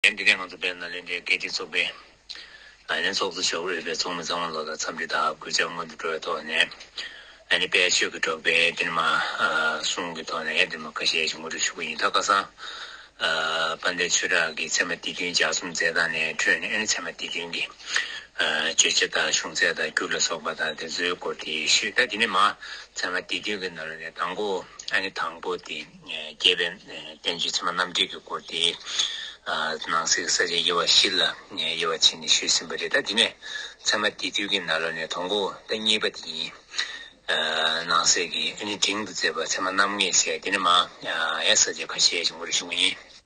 ལན། འདི་གའི་ནང་དུ་སྦེལ་ནཱ་ལེནྡྲའི་རྒྱལ་སྤྱིའི་ཚོགས་པའི། ཨ་ནི་ཚོགས་གཙོ་མཆོག་གིས་རིགས་པའི་ཚོགས་མི་གཙང་མ་ལོག་ལ་འཚམས་འདྲི་དང་གུས་ཕྱག་སྔོན་དུ་འགྲོ་བའི་ཐོག་ནས། ཨ་ནི་དཔལ་ཆོས་ཀྱི་གྲོགས་པའི་ཏིལ་མ། གསུང་གི་ཐོག་ནས་ཨེ་ཏིལ་མ་ཁ་ཤས་ཤིག་ངོ་སྤྲོད་ཞུ་གི་ཡིན་ད་ཁ་སང། དཔལ་ལྡན་ཆོས་གྲགས་ཀྱིས་ཚད་མ་དེ་བདུན་ལྗགས་གསུམ་མཛད་སྟངས་ནས་འཕྲོས་ནས་ཨ་ནི་ཚད་མ་དེ་བདུན་གྱི། བརྗོད་བྱ་དང་གཞུང་ཚད་དང་འགྱུར་ལ་སོགས་པ་དང་དེ་ཚོའི་སྐོར་དེ་ཤོད་ད་དེ་ནས་མ། ཚད་མ་དེ་བདུན་གྱི་ནང་ནས་དང་པོ་ཨ་ནི་དང་པོ་དེ། རྒྱས་པའི་བསྟན་བཅོས་ཚད་མ་རྣམ་འགྲེལ་གྱི་སྐོར་དེ་ནང་གསེས་ཀྱི་ས་བཅད་དབྱེ་བ་བཞི་ལ་དབྱེ་བ་ཕྱེ་ནས་ཞུས་ཟིན་པ་རེད་ད་དེ་ནས་ཚད་མ་དེ་དུས་ཀྱི་ན་ལོ་ནས་དང་པོ་ཟླ་གཉིས་པ་དེ་ཡིན། ནང་གསེས་ཀྱི་ཨ་ནི་འབྲིང་དུ་བཙལ་བ་ཚད་མ་རྣམ་ལྔས་བཤད་དེ་ནས་མ་ཡ་ས་བཅད་ཁ་ཤས་ཀྱི་སྐོར་ཞུ་བ་ཡིན།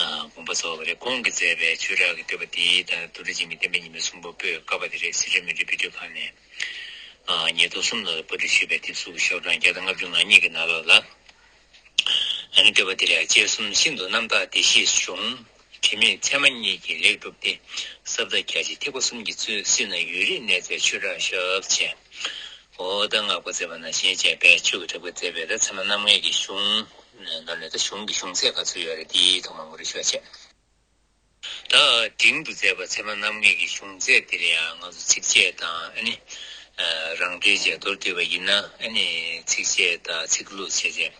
དགོངས་པ་སོགས་རེབ་གོང་གི་མཛད་པའི་ཆོས་གྲགས་ཀྱི་བསྟོད་པ་འདིའི་ལྟར་རྡོ་རྗེ་འཇིགས་མེད་བསྟན་པའི་ཉི་མའི་གསུང་པོད་པོད་དཀར་པ་དེ་རེད་སི་ཁྲོན་མི་རིགས་དཔེ་སྐྲུན་ཁང་ནས་ཉེར་སྟོང་གསུམ་ལོ་ལ་པར་སྐྲུན་ཞུས་པའི་དེབ་གཟུགས་ཀྱི་ཤོག་གྲངས་བརྒྱ་དང་ལྔ་བཅུ་ང་གཉིས་ཀྱི་ནང་ལོགས་ལ་ཨ་ནི་བསྟོད་པ་འདི་ལས་དཔྱད་གསུམ་ཤིན་ཏུ་རྣམ་དག་བདེ་གཤེགས་གཞུང་དྲི་མེད་ཚད་མ་གཉིས་ཀྱིས་ལེགས་གྲུབ་སྟེ་ཟབ་བརྡ་རྒྱ་ཆེ་ཐེག་པ་གསུམ་གྱི་གཙོས་སྲིད་ན་ཡུན་རིང་གནས་མཛད་ཆོས་གྲགས་ཞབས་ཆེན་ཧོ། ད་ནག་པོ་བཙས་པ་ན་ཞེས་བྱ་བས་ཆོས་ཀྱི་དྲག་པོའི་བཙས་པས་ད་ཚེར་མ་རྣམ་ལྔས་ཀྱི་གཞུང། ནོར་ནི་ད་གཞུང་གི་གཞུང་ཚད་ག་ཚོད་ཡོད་རེད་འདིའི་ཐོག་མ་མགུར་རེ་ཞུ་བ་བྱས། ད་འབྲིང་དུ་བཙས་པ་ཚེར་མ་རྣམ་ལྔས་ཀྱི་གཞུང་ཚད་འདིར་ཡང་ང་ཚོ་ཚིགས་བཅད་དང་ཨ་ནི། རང་འགྲེལ་བཅས་མདོར་བསྡུས་པ་ཡིན་ན་ཨ་ནི་ཚིགས་བཅད་དང་ཚིག་ལྷུག་བྱས་བྱས།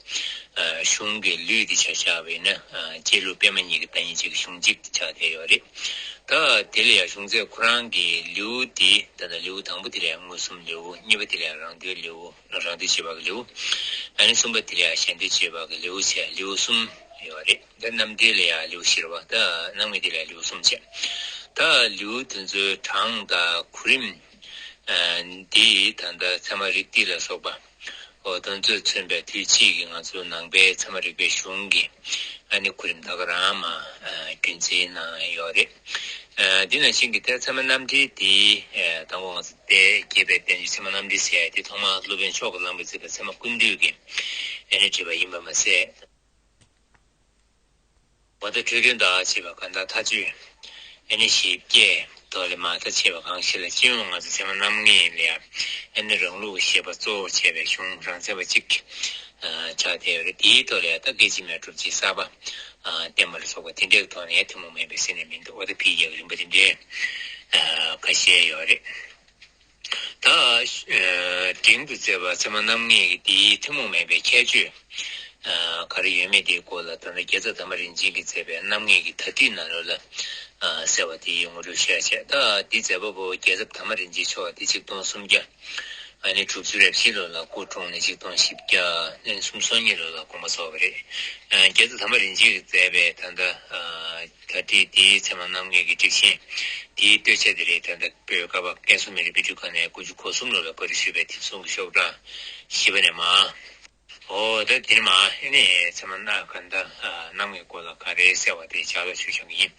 གཞུང་གི་ལུས་འདི་བྱ་བྱ་བས་ན་སྐྱེས་ལུས་སྤེལ་མ་གཉིས་ཀྱི་བདག་ཉིད་གཅིག་གཞུང་གཅིག་ཏུ་བྱ་བྱ་ཡོད་རེད། ད་དེ་ལ་ཡང་གཞུང་ཚད་ཁོ་རང་གི་ལེའུ་འདི་ད་ལྟ་ལེའུ་དང་པོ་དེ་ལ་ཡང་མངོན་སུམ་ལེའུ་གཉིས་པ་དེ་ལ་ཡང་རང་འདོད་ལེའུ་རང་འདོད་བྱེད་པ་གི་ལེའུ་ད་ནི་གསུམ་པ་དེ་ལ་ཡང་གཞན་འདོད་བྱེད་པ་གི་ལེའུ་བྱས་ལེའུ་གསུམ་ཡོད་རེད་ད་རྣམ་འགྲེལ་ལ་ཡང་ལེའུ་བཞིར་བ་ད་སྣང་མེད་དེ་ལ་ལེའུ་གསུམ་བྱས་ད་ལེའུ་དེ་ཚོའི་གྲངས་དང་གོ་རིམ་འདི་ད་ལྟ་ཚད་མ་རིག་སྟེ་ལ་སོགས་པ། ཨོ་དོན་ཚོད་མཚོན་པའི་དུས་ཚིགས་ཀྱི་ང་ཚོའི་ནང་པའི་ཚད་མ་རིག་པའི་གཞུང་གི་ཨ་ནི་གོ་རིམ་དག་གི་རང་མ་རྒྱུན་འཛིན་གནང་ཡོད་རེད། འདི་ནང་བཞིན་གྱི་ཐད་ཚད་མ་རྣམ་འགྲེལ་འདི་དང་པོ་ང་ཚོ་དད་བསྐྱེད་པའི་བསྟན་བཅོས་ཚད་མ་རྣམ་འགྲེལ་ཟེར་ཡ་དེ་ཐོག་མར་སློབ་དཔོན་མཆོག་གིས་བླངས་པའི་མཛད་པ་ཚད་མ་ཀུན་འདུས་ཀྱི་ཨ་ནི་བྲིས་པ་ཡིན་པར་མ་ཟད། བ་དང་འཕྲོས་དོན་དག་ཅེས་པ་གང་དག་མཐའ་དཔྱོད་ཨེ་ནི་ཞེས་བསྐྱེད་རྟོགས་ལས་མ་མཐའ་ཆེ་བ་གང་ཞིག་ལ་སྐྱེ་བོ་ང་ཚོ་ཚད་མ་རྣམ་ལྔས་ལས་ཨེ་ནི་རང་ལུགས་ཞེས་པ་གཙོ་བོར་བྱས་པའི་གཞུང་རང་ཚད་པ་ཅིག་ཆགས་བསྡད་པ་རེད་དེའི་ཐོག་ལས་ད་གེ་ཅི་མེད་གྲུབ་ཅེས་བསགས་པ་བསྟན་པ་ལ་སོགས་པ་དེ་འདྲའི་ཐོག་ནས་ཐུན་མོང་མེད་པའི་སེམས་ནི་མི་འདུག་བ་དང་འཕེལ་རྒྱས་ཀྱི་རིམ་པ་དེ་འདྲའི་ཁ་ཤས་ཡོད་རེད། ད་དྲིང་དུ་བརྩེ་བ་ཚད་མ་རྣམ་ངེས་ཀྱི་དེའི་ཐུན་མོང་མེད་པའི་ཁྱད་ཆོས་ག་རེ་ཡོད་མེད་དེའི་སྐོར་ལ་དོན་དུ་རྒྱལ་ཚབ་དམ་པ་རིན་ཆེན་གྱིས་མཛད་པའི་རྣམ་ངེས་ཀྱི་དག་ཁྲིད་ན་ལོ་ལ་གསལ་བ་དེའི་ངོ་སྤྲོད་ཤས་ཆེ་ད་དེ་མཛད་པ་པོ་རྒྱལ་ཚབ་དམ་པ་རིན་ཆེན་མཆོག་སྟེ་ཆིག་སྟོང་སུམ་བརྒྱ་ནས་དྲུག་ཅུ་རེ་བཞི་ལོ་ལ་སྐུ་འཁྲུངས་ནས་ཆིག་སྟོང་བཞི་བརྒྱ་ནས་གསུམ་སོ་གཉིས་ལོ་ལ་དགོངས་པ་རྫོགས་པ་རེད། རྒྱལ་ཚབ་དམ་པ་རིན་ཆེན་གྱིས་མཛད་པའི་ད་ལྟ། ད་ལྟའི་དེའི་ཚེ་མ་གནང་མཁན་གྱི་སྒྲིག་ཆས་དེའི་བལྟོས་བཅས་དེ་རེད་ད་ལྟ་བོད་སྐབས་བབ་བསྟན་སྲུང་མི་རིགས་དཔེ་སྒྲུབ་ཁང་ནས་དགུ་བཅུ་གོ་གསུམ་ལོ་ལ་བཀོད་སྒྲིག་ཞུས་པའི་དེབ་གསུམ་གྱི་ཤོག་གྲངས་བཞི་པ་ནས་མ་ཨོ་ད་དེ་ནས་མ་ཨེ་ནས་ཚད་མ་སྣ་ག་ད་གནང་མཁན་སྐོར་ལ་ག་རེ་གསལ་བ་དེ་ཇག་ལ་ཞུ་ཆོག་གི་ཡིན།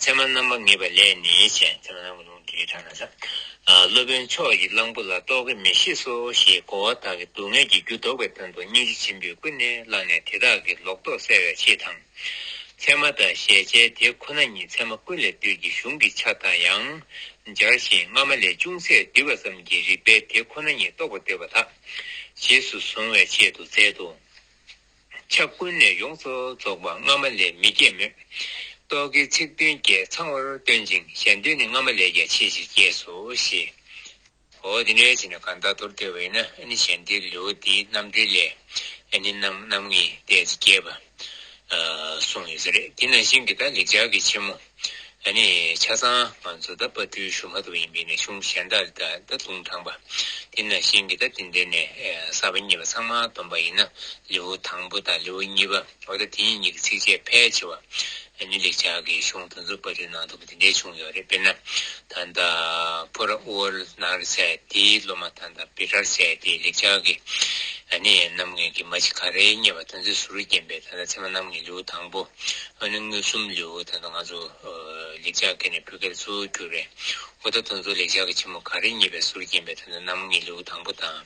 ཚད་མ་རྣམ་པ་ངེས་པ་ལས་ནི་བྱས་ཚད་མ་རྣམ་པ་ལུང་འདིའི་དྲ་ན་ས་སློབ་དཔོན་མཆོག་གིས་གླང་པོ་ལ་རྟོག་གེ་མི་ཤེས་སོ་ཞེས་གོ་བ་དག་གི་སྡུག་བསྔལ་གྱི་རྒྱུ་བཟློག་པའི་དོན་དུ་སྙིང་རྗེ་ཆེན་པོའི་སྐུ་གནས་བླངས་ནས་དེ་དག་གི་ལོག་རྟོག་བསལ་བའི་ཆེད་དང། ཚད་མ་དང་གཞལ་བྱའི་དེ་ཁོ་ན་ཉིད་ཚད་མ་ཀུན་ལས་བཏུས་ཀྱི་གཞུང་གི་ཆ་དང་ཡང་སྦྱར་ཞིང་སྔ་མ་ལས་ཅུང་ཟད་བསྡུས་པ་ཙམ་གྱིས་རིགས་པའི་དེ་ཁོ་ན་ཉིད་རྟོགས་པ་འདོད་པ་དག་རྗེས་སུ་གཟུང་བའི་ཆེད་དུ་མཛད་དོ། ཆ་ཀུན་ནས་ཡོངས་སུ་རྫོགས་པ་སྔ་མ་ལས་མི་སྐྱེད་མོད། རྟོག་གེའི་ཚིག་དོན་བརྒྱས་ཚང་བར་སྟོན་ཅིང་གཞན་དོན་ནི་སྔ་མ་ལས་ཀྱང་ཆེས་ཆེར་སྐྱེས་སོ་ཞེས། འོ་དེ་འདྲའི་ཚེ་ན་གང་དག་དོར་ཐལ་བ་ཡིན་ན་ནི་གཞན་དེའི་ལེའུ་སྟེ་རྣམ་འགྲེལ་ལས་ནི་རྣམ་རྣམ་ངེས་བལྟས་ཚེ་སྐྱེས་པ། གསུངས་ཡོད་ས་རེད་དེ་ནང་བཞིན་གྱི་དག་ལེགས་སྦྱར་གྱི་ཕྱི་མོ། ནི་ཆ་ཚང་ང་ཚོ་དག་དཔའ་སྤྲུལ་ཞུ་མ་ཐུབ་ཡིན་པས་ནི་གཞུང་གཞན་དག་ལས་དག་ད་དུང་དྲངས་པ། དེ་ནང་བཞིན་གྱི་དག་དེ་འདྲེ་ནས་གསར་པ་གཉིས་པ་ཚང་མ་བསྡོམས་པ་ཡིན་ན་ལེའུ་དང་པོ་དང་ལེའུ་གཉིས་པ། ལོ་ཟླ་དེ་གཉིས་ཀྱི་ཚིགས་བཅད་ཕལ་ཆེ་བ་ནི་ལེགས་ཆ་གི་གཞུང་དུ་འཛུགས་པ་རེད་ནང་དུ་དེ་འདྲའི་བྱུང་ཡོད་རེད་དཔེར་ན། ད་ལྟ་ཕོ་ར་དབུ་བར་ནང་རེ་ཟད་དེའི་སློབ་མ་ད་ལྟ་བི་རར་ཟད་དེ་ལེགས་ཆ་གི་ནི་རྣམ་ངེས་ཀྱི་མ་ཕྱི་ག་རེའི་རྙེད་པ་དོན་ཚོད་ཟུར་རུ་བསྐྱེན་པའི་ད་ལྟ་ཚད་མ་རྣམ་ངེས་ལེའུ་དང་པོ་ཨོ་ནི་མངོན་སུམ་ལེའུ་ད་ལྟ་ང་ཚོ་ལེགས་ཆ་གི་ནི་བུ་གལ་ཚུལ་བསྒྱུར་བའི་འོ་ད་དོན་ཚོད་ལེགས་ཆ་གི་ཕྱི་མོ་ག་རེ་རྙེད་པའི་ཟུར་བསྐྱེན་པའི་ད་ལྟ་རྣམ་ངེས་ལེའུ་དང་པོ་དང།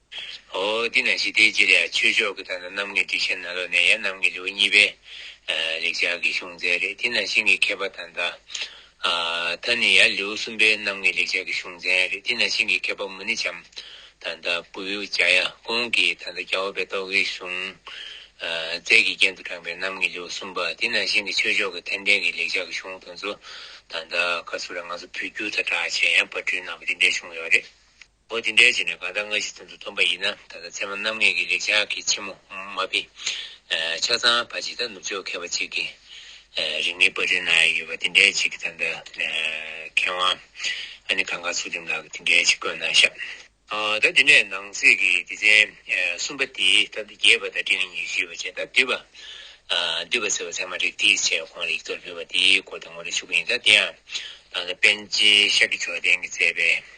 ཧོ། དེས་ན་ཞི་བདེའི་རྗེས་ལ་ཆོས་ཕྱོགས་ཀྱི་དང་ན་རྣམ་ངེས་སྒྲིག་ཆེན་ན་ལོ་ནས་ཡ་རྣམ་ངེས་ལེའུ་གཉིས་པའི། ལེགས་སྦྱར་གྱི་གཞུང་མཛད་རེད་དེས་ན་ཤིང་གི་མཁས་པ་དང་ད། ད་ནི་ཡ་ལེའུ་གསུམ་པའི་རྣམ་ངེས་ལེགས་སྦྱར་གྱི་གཞུང་མཛད་རེད་དེས་ན་ཤིང་གི་མཁས་པ་མུ་ནི་བྱམས། དང་ད་བུ་བེའུ་བྱ་ཡ་ཀུན་གྱི་དང་ད་རྒྱ་བོ་པའི་རྟོག་གེའི་གཞུང། རྩལ་གྱི་རྒྱན་དུ་དྲངས་པའི་རྣམ་ངེས་ལེའུ་གསུམ་པ་དེས་ན་ཤིང་གི་ཆོས་ཕྱོགས་ཀྱི་ཐན་ལྡན་གྱི་ལེགས་སྦྱར་གྱི་གཞུང་དང་ཚོ། དང་ད་ག་ཚོད་ར་ང་ཚོ་བོད་བསྒྱུར་དང་གྲགས་ཆེན་ཡང་བ་སྤྲུལ་གནང་བ་དེ་འདྲའི་གཞུང་ཡོད་རེད། འོ་དེ་འདྲའི་རྗེས་ནས་གང་ལྟར་སྔ་ཕྱི་ཚུན་དུ་འཐོམ་པ་ཡིན་ན་ད་ལྟ་ཚད་མ་རྣམ་ངེས་ཀྱི་ལེགས་ཆ་གི་ཕྱི་མོ་མ་དཔེ། ཆ་ཚང་བ་ཇི་ལྟར་ནུབ་ཕྱོགས་མཁས་པ་གཅིག་གིས། རིག་གནས་པར་སྐྲུན་གནང་ཡས་ཡོད་པ་དེ་འདྲའི་ཆེད་ཀྱི་ད་ལྟ་མཁས་དབང་ཨ་ནི་གངས་དཀར་ཚུལ་ཁྲིམས་ལགས་ཀྱིས་དེ་འདྲའི་ཆེད་བཀོད་གནང་ཤག། ད་དེ་ནས་ནང་གསེས་ཀྱི་སྡེ་ཚན་གསུམ་པ་དེ་ད་ལྟ་རྒྱས་པ་དང་སྤྲིང་ཉིན་བཞི་པ་བཅས་ད་བསྡུས་པ། བསྡུས་པ་ཟེར་བ་ཚད་མ་རིགས་དེའི་ཆེད་ཁོང་ལ་ཡིག་ཐོག་ཕུལ་བ་དེའི་སྐོར་དུ་ངོ་སྤྲོད་ཞུ་གི་ཡིན་ད་དེ་ཡང། ད་ལྟ་པཎ་ཆེན་ཤཀྱའི་མཆོག་ལྡན་གྱིས་མཛད་པའི།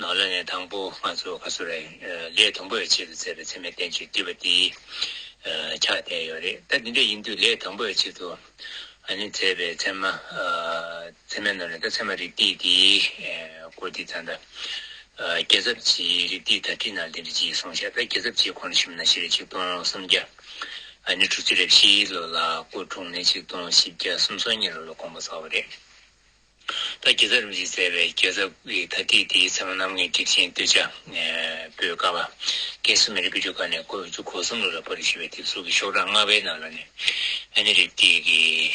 ནང་ལ་ནས་དང་པོ་ང་ཚོ་ག་ཚོད་རེད་ལས་དང་པོ་ཡོ་ཆེད་དུ་བཙལ་བའི་ཚེ་མེ་སྟེན་ཆུས་བསྡུས་པ་དེ་ཆགས་བསྡད་ཡོད་རེད་ད་དེ་འདྲ་ཡིན་དུས་ལས་དང་པོ་ཡོ་ཆེད་དུ་ཨ་ནི་བཙལ་བའི་ཚེ་མ་ཚེ་མའི་ནང་ནས་ད་ཚེ་མ་རིགས་ཏིག་དེ་སྐོར་དེ་ད་ད་རྒྱལ་ཚབ་ཀྱིས་རིགས་ཏིག་དག་ཁྲིད་ནང་དེ་འདྲ་ཅིག་སོང་ཤག་ད་རྒྱལ་ཚབ་ཀྱིས་ཁོང་ནས་ཞིབ་ན་བཞི་རེ་ཆིག་སྟོང་སུམ་བརྒྱ་ཨ་ནི་དྲུག་ཅུ་རེ་བཞི་ལོ་ལ་སྐུ་འཁྲུངས་ནས་ཆིག་སྟོང་བཞི་བརྒྱ་སུམ་སོ་གཉིས་ལོ་ལ་དགོངས་པ་བསྩལ་བ་རེད། ད་རྒྱལ་ཚབ་རིམ་བཞིན་མཛད་པའི་རྒྱལ་ཚབ་ཀྱི་ད་ལྟའི་དེའི་མཚན་མོ་གནམ་ངན་སྒྲིབ་ཆེན་སྟོད་ཆ་པོའི་ཀ་བ་ཀན་སུ་མེ་རི་བུ་ཆུ་ཁ་ནས་ཁོལ་བཅུ་གོ་གསུམ་ལོ་ལ་པར་རིས་ཞེས་པའི་དེབ་གཟུགས་ཀྱི་ཤོག་གྲངས་ལྔ་པའི་ནང་ལ་ནི་ཨ་ནེ་རིགས་ཀྱི་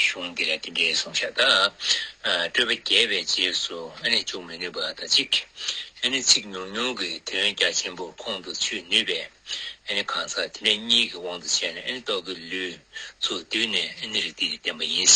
གཞུང་འདི་ལ་འདི་འདྲའི་གསུང་བཤད་དག་སྤྲོས་པ་བརྒྱད་པའི་རྗེས་སུ་ཨ་ནེ་འཇུག་མི་ནུས་པ་དང་གཅིག་ཨ་ནེ་ཚིག་ཉུང་ཉུང་གི་དོན་རྒྱ་ཆེན་པོ་ཁོང་དུ་ཆུད་ནུས་པས་ཨ་ནེ་གང་ཟག་དེ་འདྲ་གཉིས་ཀྱི་དབང་དུ་བྱས་ནས་ཨ་ནེ་རྟོག་གེ་ལུས་ཚུགས་བསྡུས་ནས་ཨ་ནེ་རིགས་འདི་ལས་བསྟན་པ་ཡིན།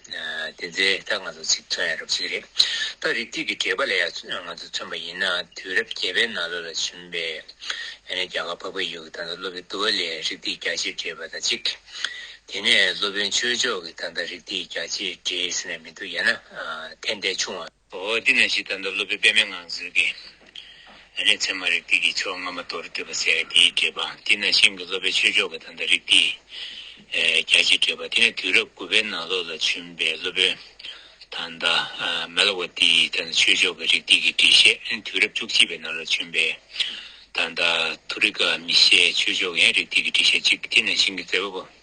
དེ་ཚེ་ད་ང་ཚོ་ཚིག་མཚོན་ཡ་རབས་ཤིག་རེད་ད་རིགས་དུས་ཀྱི་དྲེགས་པ་ལ་ཡ་ང་ཚོ་མཚོན་པ་ཡིན་ན་དུས་རབས་བརྒྱད་པའི་ནང་ལོ་ལ་བྱོན་པའི་ཡ་ནས་རྒྱ་གར་བ་བ་ཡུག་ད་ད་སློབ་པའི་དུ་བ་ལས་རིགས་དུས་རྒྱ་ཆེ་དྲེགས་པ་ད་གཅིག་དེ་ནས་སློབ་དཔོན་ཆོས་མཆོག་གི་ད་ད་རིགས་དུས་རྒྱ་ཆེ་དྲེགས་ཟེར་ན་མི་འདུག་ཡ་ན་ཐན་ལྟས་ཆུང་བ། འོ་འདི་ན་ཞིག་ད་ལྟ་སློབ་དཔོན་པདྨའི་ངང་ཚུལ་གྱིས། ཨ་ནི་ཚད་མ་རིགས་ཏིག་གི་ཕྱོགས་སྔ་མ་མདོར་བསྡུས་པ་ཟེར་དེའི་འགྲེལ་པ་འདི་ན་ཤིང་གི་སློབ་པའི་ཆོས་ཕྱོགས་ཀྱི་ད་ལྟ་རིགས་ཏིག། རྒྱ་ཆེའི་འགྲེལ་པ་འདི་ནི་དུས་རབས་དགུ་པའི་ནང་ལོགས་ལ་བྱོན་པའི་སློབ་དཔོན། Malavati། ད་ལྟ་ཆོས་ཕྱོགས་ཀྱི་རིགས་ཏིག་གི་འགྲེལ་བཤད་ཨ་ནི་དུས་རབས་བཅུ་གཅིག་པའི་ནང་ལོགས་བྱོན་པའི། ད་ལྟ Thurika། མི་ཤེས་ཆོས་ཕྱོགས་ཀྱི་ཡང་རིགས་ཏིག་གི་འགྲེལ་བཤད་ཅིག་འདི་ན་ཤིང་གི་རྩེ་བ་པོ།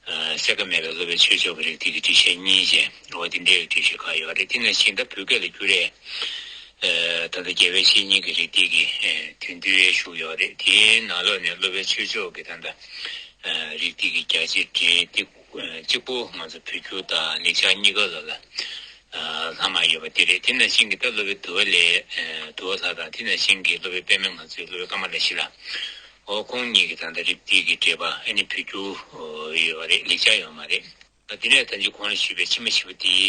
གསལ་ཁ་མེད་པའི་སློབ་པའི་ཆོས་ཕྱོགས་ཀྱི་རིགས་དེ་གི་འདྲི་བཤད་གཉིས་ཅན་འོ་དེ་འདྲའི་འདྲི་བཤད་ཁག་ཡོད་རེད་དེ་ནས་ཕྱིན་ད་བོད་སྐད་ལ་བསྒྱུར་རེས་ད་ལྟ་རྒྱལ་བའི་བཤེས་གཉེན་གྱི་རིགས་དེ་གི་དོན་བསྡུ་ཡས་བཞུགས་ཡོད་རེད་དེའི་ནང་ལོགས་ནས་སློབ་པའི་ཆོས་ཕྱོགས་ཀྱི་ད་ལྟ་རིགས་དེ་གི་རྒྱ་ཆེ་འབྲིང་གཅིག་པོ་ང་ཚོ་བོད་བསྒྱུར་དང་ལེགས་ཆ་གཉིས་ཀ་ལ་ལྷག་མ་ཡོད་པ་དེ་རེད་དེ་ནས་ཕྱིན་གི་ད་སློབ་པའི་དུ་བ་ལས་དུ་བ་ལྷ་དང་དེ་ནས་ཕྱིན་གི་སློབ་པའི་པདྨས་ང་ཚོའི་སློབ་པའི་བཀའ་མ་ལས་བཞི་ལ། ཨོ་ཁོང་གཉིས་ཀྱི་ད་ལྟ་རིབ་སྟེགས་ཀྱི་འདྲེས་པ་ཨ་ནི་བུ་རྒྱུ་ཡོད་པ་རེད་ལེགས་ཆ་ཡོད་མ་རེད། དེ་ནས་ད་འཇུ་ཁོང་ལ་ཞུས་པའི་ཕྱི་མ་བཞི་པོ་དེའི་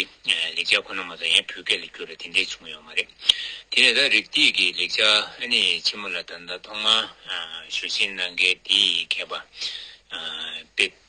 ལེགས་ཆ་ཁོ་ན་མ་གཏོགས་ཡང་བོད་སྐད་ལ་བསྒྱུར་ལ་དེ་འདྲས་བྱུང་ཡོད་མ་རེད། དེ་ནས་ད་རིབ་སྟེགས་ཀྱི་ལེགས་ཆ་ཨ་ནི་ཕྱི་མོ་ལ་ད་ལྟ་ཐོག་མར་ཞུ་ཞིང་གནང་མཁན་དེའི་མཁས་པ་དཔེ།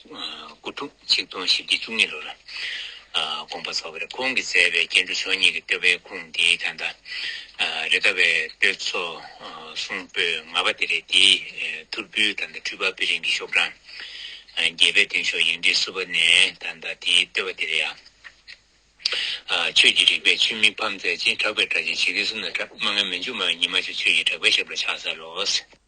དགུ་ཐུག་ཆིག་སྟོང་བཞི་བརྒྱ་བཅུ་གཉིས་ལོར་དགོངས་པ་རྫོགས་པའི་ཁོང་གིས་མཛད་པའི་སྐྱེ་འགྲོ་ཆོས་ཉིད་ཀྱི་བསྟོད་པའི་ཁུངས་འདིའི་དོན་དང། རེ་ལྟ་བའི་བསྟོད་ཚོགས་གསུང་པོད་ལྔ་པ་དེ་རེད་དེ། ཐུར་བུའི་ད་ལྟ་འཁྲུལ་པ་པི་རིང་གི་ཤོག་གྲངས་བརྒྱད་པའི་མདུན་ཤོག་ཡིག་འབྲི་བསུ་བ་ནས་ད་ལྟ་དེའི་བསྟོད་པ་དེ་རེད་ཡ། ཆོས་ཀྱི་རིག་པས་ཆུ་མིག་ཕམ་མཛད་ཅིང་གྲགས་པའི་སྒྲ་ཆེན་ཇི་སྐད་གསུང་ན་སྒྲ་མ་ངན་མི་འཇུག་སྨྲ་བའི་ཉི་མ་ཆུ་ཆོས་ཀྱི་གྲགས་པས་ཞབས་ལ་ཕྱག་འཚལ་ལོ།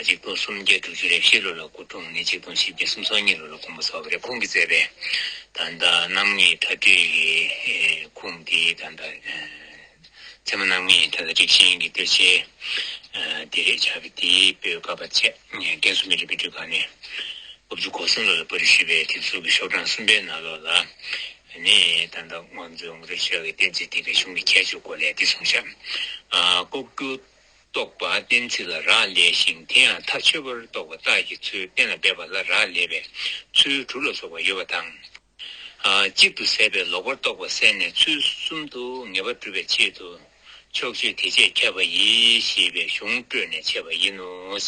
གཅིག་སྟོང་སུམ་བརྒྱ་དྲུག་ཅུ་རེ་བཞི་ལོ་ལ་སྐུ་འཁྲུངས་ནས་གཅིག་སྟོང་ཆིག་བརྒྱ་སུམ་སོ་གཉིས་ལོ་ལ་དགོངས་པ་ཚོགས་པ་རེབ་གོང་གིས་བསྩལ་པའི་ད་ལྟ་རྣམ་ངེས་མཐའ་སྤྲོད་ཀྱི་ཁུངས་དེ་ད་ལྟ་ཚད་མ་རྣམ་ངེས་མཐའ་དང་རིགས་ཞེན་གྱི་གཏེར་ཆེན་དེ་རེད་བྱ་བའི་དེའི་པོད་བཀའ་བབས་ཆད་བརྟན་སུམ་བརྒྱ་དྲུག་བརྒྱ་དྲུག་ཁ་ནས་དབུ་བཅུ་གོ་གསུམ་ལོ་ལ་པར་རིས་ཞུས་པའི་དེབ་གཟུགས་ཀྱི་ཤོག་གྲངས་གསུམ་པའི་ནང་ལོགས་ལ་ནི་ད་ལྟ་དབང་རྫོགས་ངོ་སྤྲོད་བྱ་བའི་གཏེར་མཛོད་དེ་བའི་གཞུང་གི་ཁྱད་ཆོས་སྐོར་ལས་འདི་གསུངས་བྱ། ལྐོག་གྱུར། རྟོག་པ་གཏན་ཚིགས་ལ་རག་ལས་ཤིང་དེ་ཡང་ཐག་ཆོད་པར་རྟོག་པ་རྟགས་ཀྱི་ཚུལ་གཏན་ལ་འབེབས་པ་ལ་རག་ལས་པས་ཚུལ་དྲུག་ལ་སོགས་པ་ཡོད་པ་དང། གཅིག་ཏུ་ཟད་པའི་ལོག་པར་རྟོག་པ་བསལ་ནས་ཚུལ་གསུམ་དུ་ངེས་པར་སྒྲུབ་པའི་ཆེད་དུ། ཕྱོགས་ཆོས་དེ་ཆེད་ཁྱབ་པ་ཡིས་ཞེས་པའི་གཞུང་སྤྲོས་ནས་འཆད་པ་ཡིན་ནོ།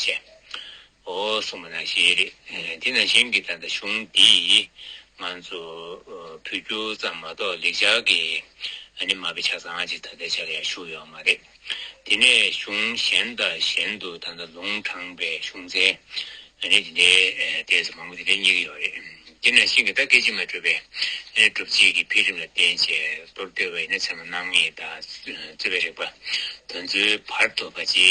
ཨོ་གསུངས་པ་ན་ཞེས་རེད། དེས་ན་གཞན་གྱི་ད་ལྟ་གཞུང་འདིས་ང་ཚོ་བོད་སྐྱོར་ཙམ་མ་གཏོགས་ལེགས་སྦྱར་གྱི་ཨ་ནི་མ་པའི་ཆ་ཚང་ཅིག་ད་ལྟའི་ཆར་ཡང་བཞུགས་ཡོད་མ་རེད། དེ་ནས་གཞུང་གཞན་དང་གཞན་དུ་ད་ལྟ་ལུང་དྲངས་པའི་གཞུང་ཚན་ཨ་ནི་དེ་འདྲའི་ལྟས་སུ་མང་པོ་དེ་འདྲའི་རྙེད་ཀྱི་ཡོད་རེད། དེས་ན་གཞན་གྱི་ད་སྐད་ཅིག་མའི་སྤྲོས་པའི་སྒྲུབ་བྱེད་ཀྱི་འཕེལ་རིམ་ལ་བརྟེན་བྱས་གཏོར་བཏོད་པ་ཡིན་ན་ཚད་མ་རྣམ་ངེས་དང་རྩོད་པའི་རིགས་པ་དོན་ཚོའི་བར་དོ་བ་ཅི།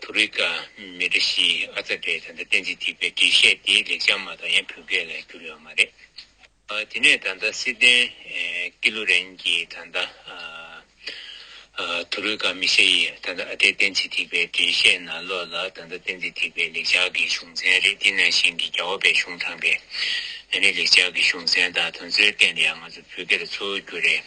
ཐུ་རི་ཀ་མི་རིགས་ཤིག་ཨ་ཙ་སྒྲའི་ད་ལྟ་གཏན་ཚིགས་ཐིག་པའི་འགྲེལ་བཤད་དེ་ལེགས་བྱང་མ་གཏོགས་ཡང་བོད་སྐད་ལ་བསྒྱུར་ཡོད་མ་རེད། དེ་ནས་ད་ལྟ་སི་ཏན་ཀི་ལུ་རན་གྱི་ད་ལྟ་ཐུ་རི་ཀ་མི་ཤེ་ཡི་ད་ལྟ་ཨ་ཏའི་གཏན་ཚིགས་ཐིག་པའི་འགྲེལ་བཤད་ན་ལོག་ལ་ད་ལྟ་གཏན་ཚིགས་ཐིག་པའི་ལེགས་བྱང་གི་གཞུང་ཚན་རེ་ཏི་ནང་བཞིན་གྱི་རྒྱ་བོད་པའི་གཞུང་དྲངས་པས་ན་ནི་ལེགས་བྱང་གི་གཞུང་ཚན་དག་དོན་ཚོད་བསྟན་དེ་ཡང་ང་ཚོ་བོད་སྐད་ལ་འཚོལ་བར་འགྱུར་རེད།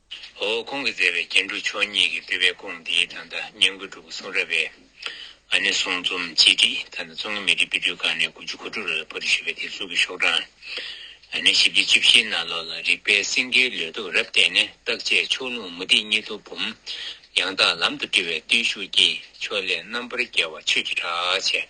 ཧོ། ཁོང་གིས་མཛད་པའི་རྒྱན་དྲུག་མཆོག་གཉིས་ཀྱི་སྤྲུལ་པའི་སྐོང་འདིའི་ད་ལྟ་བསྙེན་བཀུར་སྒྲུབ་གསུང་རབ་པའི་ཨ་ནེ་གསུང་རྩོམ་གཅིག་སྒྲིག་ད་ལྟ་རྩོམ་གྱི་མི་སྒྲིག་དཔེ་སྐྲུན་ཁང་ནས་དགུ་བཅུ་གོ་དྲུག་ལོའི་པོ་ཏི་ཞེས་པའི་དེབ་གཟུགས་ཀྱི་ཤོག་གྲངས་ཨ་ནེ་བཞི་བཅུ་བཅུ་བཞིའི་ནང་ལོགས་ལ་རིག་པའི་སེང་གེའི་ལུས་སྟོབས་རབ་བརྟན་ནས་རྟག་དཔྱད་ཕྱོགས་ལྷུང་མུ་ཏིག་གཉིས་ཐུགས་འབུམ། ཡང་དག་ལམ་དུ་སྤྲུལ་བའི་བརྟུལ་ཞུགས་ཀྱིས་ཕྱོགས་ལས་རྣམ་པར་རྒྱལ་བ་ཆོས་ཀྱི་གྲགས་ཆས།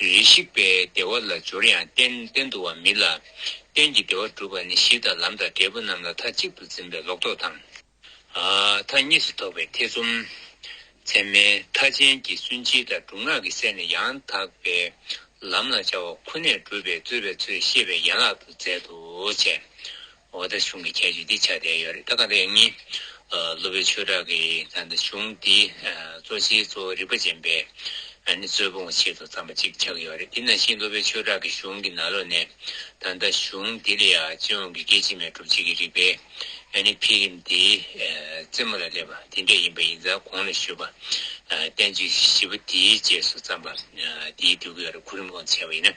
རེ་ཞིག་པའི་བདེ་བ་ལ་སྦྱོར་ཡང་རྟེན་བརྟེན་དུ་བ་མིན་ལ། རྟེན་གྱི་བདེ་བ་སྒྲུབ་པ་ནི་གཞི་དང་ལམ་དང་འབྲས་བུ་རྣམས་ལ་མཐའ་གཅིག་ཏུ་འཛིན་པའི་ལོག་རྟོག་དང། མཐའ་གཉིས་སུ་ཐོགས་པའི་ཐེ་ཚོམ། མཚན་མའི་མཐའ་ཅན་གྱི་སུན་འབྱིན་དང་སྒྲུབ་ངག་གི་གསེར་ནི་ཡང་དག་པའི་ལམ་ལ་བཅའ་བ་ཁོ་ནས་སྒྲུབ་པའི་རྩོལ་བའི་ཚུལ་ཤེས་པའི་ཡན་ལག་ཏུ་མཛད་དོ། འོ་ད་གཞུང་གི་ཁྱད་ཆོས་འདི་ཆགས་བསྡད་ཡོད་རེད་ད་ག་དེ་ཡིན། སློབ་དཔོན་ཆོས་གྲགས་ཀྱིས་ད་ནི་གཞུང་འདི་གཙོ་ཆེའི་གཙོ་བོ་རིག་པ་ཅན་པས་ནི་རྩོད་སྤོང་བའི་ཆེད་དུ་བརྩམས་པ་ཅིག་ཆགས་ཡོད་རེད་དེ་ན་གཞིས་སློབ་དཔོན་ཆོས་གྲགས་ཀྱི་གཞུང་གི་ན་ལོ་ནས་ད་ལྟ་གཞུང་འདི་ལ་ཡང་སྤྱི་ཡོངས་ཀྱི་སྐད་ཅིག་མའི་སྒྲུབ་བྱེད་ཀྱི་རིག་པའི་ནི་འཕེལ་རིམ་དེའི་རྩེ་མོ་ལ་སླེབས་པ་དེ་འདྲ་ཡིན་པ་ཡིན་ཙང་གོང་ལ་ཞུས་པ་བསྟན་བཅོས་བཞི་པོ་དེའི་རྗེས་སུ་བརྩམས་པ་འདིའི་སྡུད་ཡོད་རེད་གོ་རིམ་གོང་དུ་བྱས་པ་ཡིན་ན།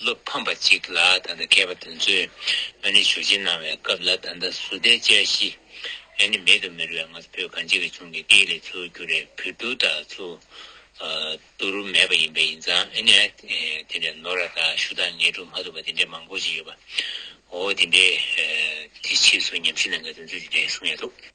བློ་ཕམ་པ་གཅིག་ལ་ད་ལྟ་མཁས་པ་དེ་ཚོས་ང་ནི་ཞུ་བྱེད་གནང་བའི་སྐབས་ལ་ད་ལྟ་སུ་བསྡད་དཔྱད་གཞི་ཡང་ནི་མེད་དུ་མི་རུ་བས་ང་ཚོ་བོད་གངས་ཅན་གྱི་ཆུང་གི་སྐད་ལས་ཚུར་བསྒྱུར་རས་བུ་དུ་དག་ཚུར་བསྡུ་རུ་མེད་པ་ཡིན་པས་ཡིན་ཙང་ཨེ་ནས་དེ་འདྲའི་ནོར་ར་དག་ཞུ་དག་ངས་སྒྲུབ་མ་ཐུབ་པ་དེ་འདྲའི་མང་པོ་ཞིག་ཡོད་པའོ་དེ་འདྲའི་དེ་ཕྱིས་སུ་ཉམས་ཞིབ་གནང་མཁན་དེ་ཚོས་དེ་འདྲའི་གསུང་ཡང་ཐུབ།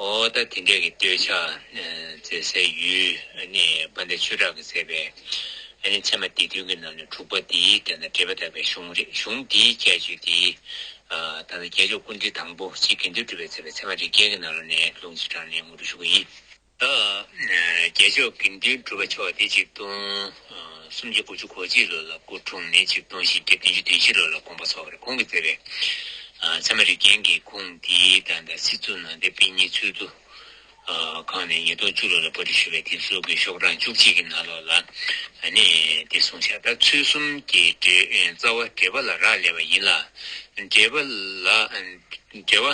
ཨོ་ད་དེ་འདྲས་ཀྱི་སྟོད་ཆ་མཛེས་སའི་ཡུལ་ནི་བ་འདའི་ཆོས་གྲགས་ཀྱིས་མཛད་པའི་ནི་ཚད་མ་སྡེ་བདུན་གྱི་ནང་ནས་དྲུག་པ་འདིའི་དེ་ན་འགྲེལ་པ་དག་པའི་གཞུང་རེད་གཞུང་འདིའི་ཁྱད་ཆོས་དེ་ད་ལྟ་རྒྱལ་མཆོག་ཀུན་འདུས་དང་པོ་ཆེ་གེ་འདུས་གྲུབ་པས་མཛད་པའི་ཚད་མ་རིགས་རྒྱན་གྱི་ནང་ལོ་ནས་ལུང་བཞི་དྲངས་ནས་ངོ་སྤྲོད་ཞུ་གི་ཡིན། རྒྱལ་མཆོག་དགེ་འདུན་གྲུབ་པ་མཆོག་འདི་གཅིག་ཏུ། སུམ་བརྒྱ་དགུ་བཅུ་གོ་གཅིག་ལོ་ལ་སྐུ་འཁྲུངས་ནས་ཆིག་སྟོང་བཞི་བརྒྱ་བདུན་ཅུ་བདུན་བཞི་ལོ་ལ་དགོངས་པ་ཚོགས་པར་ཁོང་གིས་བསྩལ་བས། ཚད་མ་རིག་རྒྱན་གྱི་ཁུངས་འདིའི་བདག་དང་སྲིད་གཙོ་ནང་བསྟན་པིན་གཉིས་ཚུལ་དུ། གང་ནས་ཉིས་སྟོང་བཅུ་ལོ་ལ་པོ་ཏི་ཞུ་བའི་དེབ་གསོལ་དགོས་ཤོག་གྲངས་བཅུ་གཅིག་གི་ནང་ལོགས་ལ་ནས་འདི་གསུང་བྱ་ད་ཚུལ་གསུམ་གྱི་རྩ་བ་འགྲེལ་པ་ལ་རག་ལས་པ་ཡིན་ལ། འགྲེལ་པ་ལ་འགྲེལ་བ་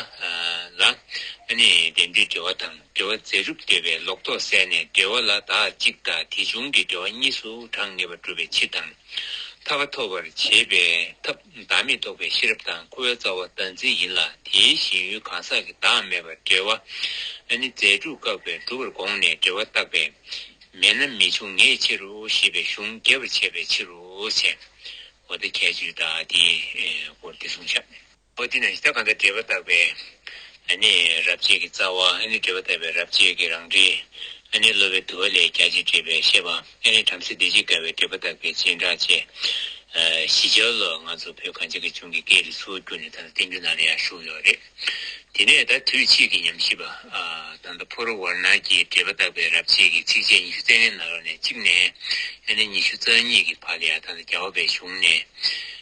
ལ་ནས་འགྲེལ་འདུས་འགྲེལ་བ་དང། འབྲེལ་བ་རྫས་གྲུབ་བདེ་བའི་ལོག་རྟོག་བསལ་ནས་འབྲེལ་བ་ལ་དག་གཅིག་དང་དེ་བྱུང་གི་འབྲེལ་བ་གཉིས་སུ་གྲངས་ངེས་པར་སྒྲུབ་པའི་ཕྱིར་དང། ཐར་པ་ཐོབ་པར་བྱེད་པའི་ཐབས་བདག་མེད་རྟོགས་པའི་ཤེས་རབ་དང་ཁུ་བའི་རྩ་བ་བདག་འཛིན་ཡིན་ལ་དེའི་ཞེན་ཡུལ་གང་ཟག་གི་བདག་མེད་པར་འབྲེལ་བ་ནི་རྫས་གྲུབ་བཀག་པའི་སྒྲུབ་པར་དགོངས་ནས་འབྲེལ་བ་བཏགས་པས་མེད་ན་མི་འབྱུང་ངེས་ཕྱིར་རོ་ཞེས་པའི་གཞུང་རྒྱས་པར་བྱས་པའི་ཕྱིར་རོ། འོ་ད་ཁྱད་ཆོས་དག་དེའི་སྐོར་བདེ་སྲུང་བྱ། ཨོ་དེ་ན་ཞེ་ད་གང་ལྟར་འབྲེལ་པར་བཏགས་པའི། ཨ་ནི་རབ་བྱེད་ཀྱི་རྩ་བ། ཨ་ནི་འབྲེལ་པར་བཏགས་པའི་རབ་བྱེད་ཀྱི་རང་འབྲས། ཨ་ནི་གློ་བའི་དུ་བ་ལས་རྒྱ་ཆེར་འབྲེལ་པའི་ཤེས་པ། ཨ་ནི་བྲམ་ཟེ་སྡེ་བརྒྱད་དགའ་བའི་འབྲེལ་པར་བཏགས་པའི་སྤྱན་དྲངས་བཅས། བཞི་ཆ་ལོ། ང་ཚོ་བོད་གངས་ཅན་གྱི་ལྗོངས་ཀྱི་སྐད་རིགས་སུ་བསྒྱུར་ནས་ད་ལྟ་བསྟན་འགྱུར་ནང་ལ་ཡང་ཞུགས་ཡོད་རེད། དེ་ནས་ད་དུས་ཕྱིས་ཀྱི་ཉམས་ཞིབ་པ། དང་ད་ཕོ་རུ་ཝར་ནར་གྱིས་འབྲེལ་པར་བཏགས་པའི་རབ་བྱེད་ཀྱི་ཚིགས་བཅད་ཉི་ཤུ་རྩེ་ལྔའི་ནང་རོ་ནས་གཅིག་ནས། ཨ་ནི་ཉི་ཤུ་རྩ་གཉིས་ཀྱི་བར་ལ་ཡང་ད་ལྟ་རྒྱལ་བ་པའི་གཞུང་ནས།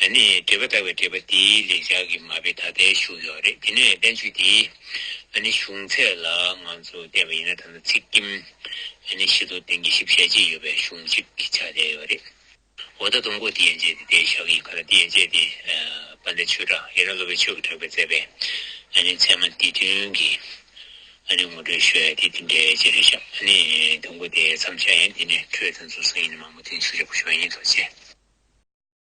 ལ་ནི་འགྲེལ་པ་བཏགས་པའི་འགྲེལ་པ་འདིའི་ལེགས་སྦྱར་གྱི་མ་དཔེ་ད་ལྟའི་བཞུགས་ཡོད་རེད་དེ་ནས་བསྟན་བཅོས་འདི་ལ་ནི་གཞུང་ཚད་ལ་ང་ཚོས་བལྟས་པ་ཡིན་ན་ད་ནི་ཚིག་སྐྱིམ་ལ་ནི་ཤི་དོ་དེང་གི་ཤི་བཤད་ཅི་ཡོད་པའི་གཞུང་གཅིག་གི་ཆ་བསྡད་ཡོད་རེད་འོ་ད་དུང་གོ་དེ་ཡན་ཆད་དེ་དེའི་ཞག་གི་ཁ་ལ་དེ་ཡན་ཆད་དེ་པ་འདི་ཆོས་གྲགས་ཡིན་ན་སློབ་པའི་ཆོས་ཀྱི་གྲགས་པའི་བཙས་པའི་ལ་ནི་ཚད་མ་འདི་དོན་གྱི་ལ་ནི་ངོ་སྤྲོད་ཞོལ་དེ་དེ་འདྲའི་ཅི་རེད་ཞག་ད་ནི་དུང་གོ་དེའི་མཚམས་ཆ་ཡན་དེ་ནས་འཕྲོས་ཚེ་འཛུགས་ས་ཡིན་ན་མང་པོ་དུས་མཆོད་ཆོག་པོ་ཞོག་ཡིན་དོ་ཅེས།